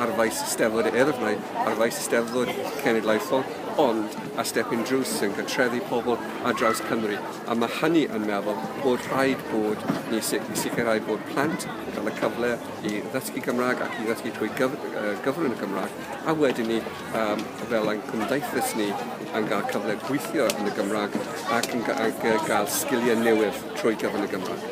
ar faes Eisteddfod yr Urdd, mae ar faes Eisteddfod Cenedlaethol, ond a stepyn drws sy'n cartrefu pobl ar draws Cymru, a mae hynny yn meddwl bod rhaid bod ni i sicrhau bod plant yn cael y cyfle i ddysgu Cymraeg ac i ddysgu trwy gyfrwng y Gymraeg, a wedyn ni Pam fel ein cymdeithas ni yn cael cyfle gweithio yn y Gymraeg ac yn cael sgiliau newydd trwy gyf yn y Gymraeg?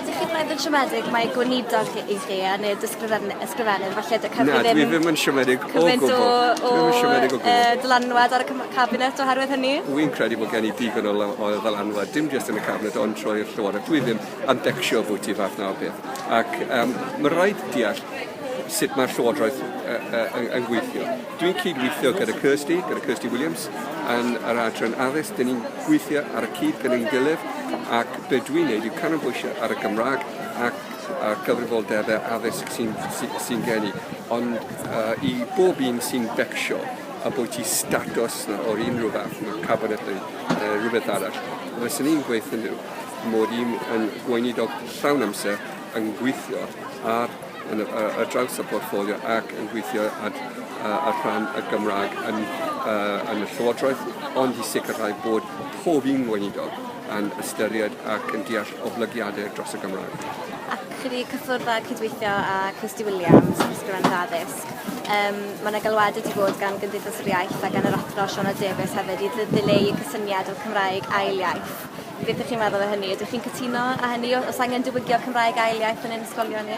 Ydych chi'n meddwl siomedig mae gweinidog chi i chi a neu'r ysgrifennydd falle dy Cymru ddim... Na, dwi ddim yn siomedig o gwbl. Cymaint o, o, o uh, dylanwad ar y cabinet oherwydd hynny? Wy'n credu bod gen i digon o, o ddylanwad, dim jyst yn y cabinet ond trwy'r llywodraeth. Dwi ddim yn decsio bwyty fath na o beth. Ac um, mae rhaid deall sut mae'r Llywodraeth uh, uh, yn, yn gweithio. Dwi'n cyd-weithio gyda Kirsty, gyda Kirsty Williams, yn yr adran addysg. Dyn ni'n gweithio ar y cyd gyda'n gilydd ac be dwi'n neud yw canolbwysio ar y Gymraeg ac a'r cyfrifoldebau addysg sy'n sy, sy gen i. Ond uh, i bob un sy'n becsio a bod ti status na o'r unrhyw fath, mae cabinet neu uh, rhywbeth arall, fyswn i'n gweithio nhw mod i'n yn gweinidog llawn amser yn gweithio ar ar draws y portffolio ac yn gweithio ar rhan y Gymraeg yn y Llywodraeth, ond i sicrhau bod pob un Weinidog yn ystyried ac yn deall oblygiadau dros y Gymraeg. Ac chi wedi cyffwrdd a cydweithio â Kirsty Williams, Ysgrifennydd Addysg. Um, mae yna galwad wedi bod gan Gymdeithas yr Iaith a gan yr Athro Siona Davies hefyd i ddileu y cysyniad o'r Cymraeg ail iaith. Beth dych chi'n meddwl o hynny? Ydych chi'n cytuno â hynny? O- Oes angen diwygio'r Cymraeg ail iaith yn ein ysgolion ni?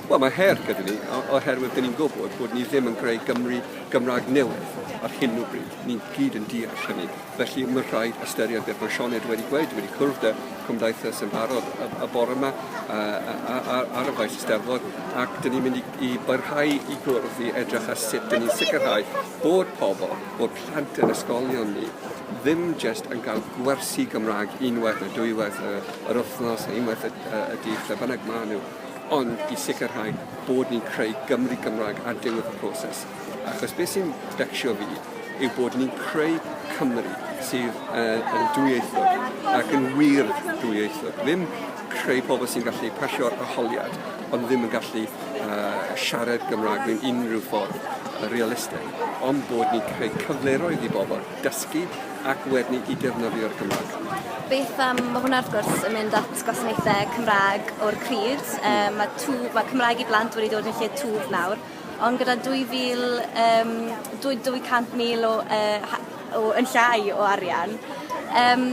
Wel, mae her gyda ni, o- oherwydd dyn ni'n gwybod bod ni ddim yn creu Gymru Gymraeg newydd ar hyn o bryd. Ni gyd yn deall hynny. Felly, mae rhaid ystyried beth mae Sioned wedi gweud. Dwi wedi cwrdd â Cymdeithas yn barod y, y bore yma a, a, a, a, ar y faes Eisteddfod, ac dyn ni'n mynd i, i barhau i gwrdd i edrych ar sut dyn ni'n sicrhau bod pobl, bod plant yn ysgolion ni ddim jyst yn cael gwersi Gymraeg unwaith neu dwywaith y, yr wythnos neu unwaith y, y, y dydd, lle bynnag maen nhw, ond i sicrhau bod ni'n creu Gymru Gymraeg ar diwedd y proses. Achos beth sy'n becsio fi yw bod ni'n creu Cymru sydd uh, yn dwyieithog ac yn wir dwyieithog. Ddim creu pobl sy'n gallu pasio'r arholiad ond ddim yn gallu uh, siarad Gymraeg mewn unrhyw ffordd uh, realistig. ond bod ni'n creu cyfleroedd i bobl dysgu ac wedyn i defnyddio'r Gymraeg. Beth am, mae hwnna wrth gwrs yn mynd at gwasanaethau Cymraeg o'r cryd. Um, mae, tŵ, mae Cymraeg i blant wedi dod yn lle twf nawr, ond gyda 2,000, um, 200,000 o, uh, o, yn llai o arian, um,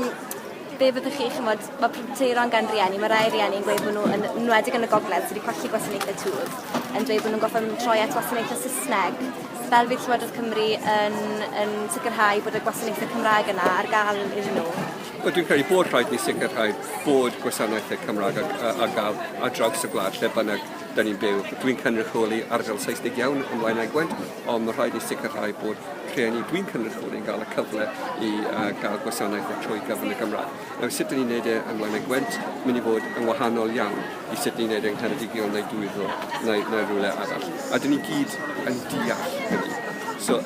be fyddwch chi, chymod, mae pryderon gan rieni, mae rai rieni yn gweud bod nhw, yn enwedig yn y gogledd, sydd wedi colli gwasanaethau twf, yn dweud bod nhw'n gorfod troi at wasanaethau Saesneg. Fel fydd Llywodraeth Cymru yn, yn sicrhau bod y gwasanaethau Cymraeg yna ar gael iddyn nhw? Wel, dwi'n credu bod rhaid ni sicrhau bod gwasanaethau Cymraeg ar gael ar draws y gwlad lle bynnag da ni'n byw. Dwi'n cynrychioli ardal Saesnig iawn yn Blaenau Gwent, ond mae rhaid i ni sicrhau bod rhieni dwi'n cynrychioli yn cael y cyfle i uh, gael gwasanaeth o trwy gyfrwng y Gymraeg. Nawr, sut ni'n gwneud e yn Blaenau Gwent, mynd i fod yn wahanol iawn i sut ni'n gwneud e yng Ngheredigion neu Dwyddol neu, neu rhywle arall. A dyn ni gyd yn deall hynny. So,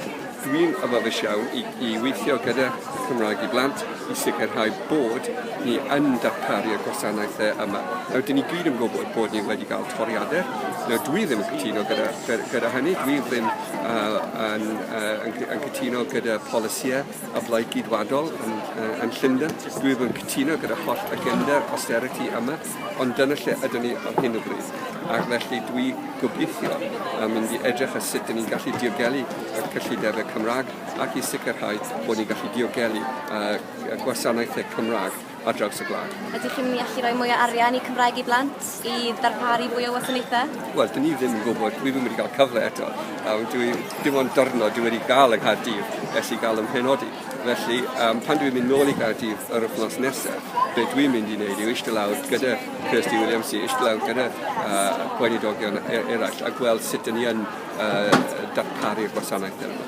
dwi'n yfyfus iawn i, i weithio gyda Cymraeg i blant i sicrhau bod ni yn darparu'r gwasanaethau yma. Nawr, dyn ni gyd yn gwybod bod ni wedi cael toriadau. Nawr, dwi ddim yn cytuno gyda, gyda hynny. Dwi ddim uh, yn, uh, yn, yn cytuno gyda polisïau y blaid gydwadol yn, uh, yn Llundain. Dwi ddim yn cytuno gyda holl agenda austerity yma, ond dyna lle ydyn ni ar hyn o bryd. Ac felly dwi gobeithio yn mynd i edrych ar sut dyn ni'n gallu diogelu y cyllidebau Cymraeg ac i sicrhau bod ni'n gallu diogelu y gwasanaethau Cymraeg ar draws y gwlad. Ydych chi'n mynd i allu rhoi mwy o arian i Cymraeg i Blant i ddarparu fwy o wasanaethau? Wel, dyn ni ddim yn gwybod, dwi ddim wedi cael cyfle eto. Um, dwi, dim ond dyrnod dwi wedi cael yng Nghaerdydd ers i gael ymhenodi. Felly, um, pan dwi'n mynd nôl i Gaerdydd yr wythnos nesaf, be dwi'n mynd i wneud yw eistedd lawr gyda Kirsty Williams, eistedd lawr gyda uh, gweinidogion e-, eraill a gweld sut dyn ni yn uh, darparu'r gwasanaeth yma.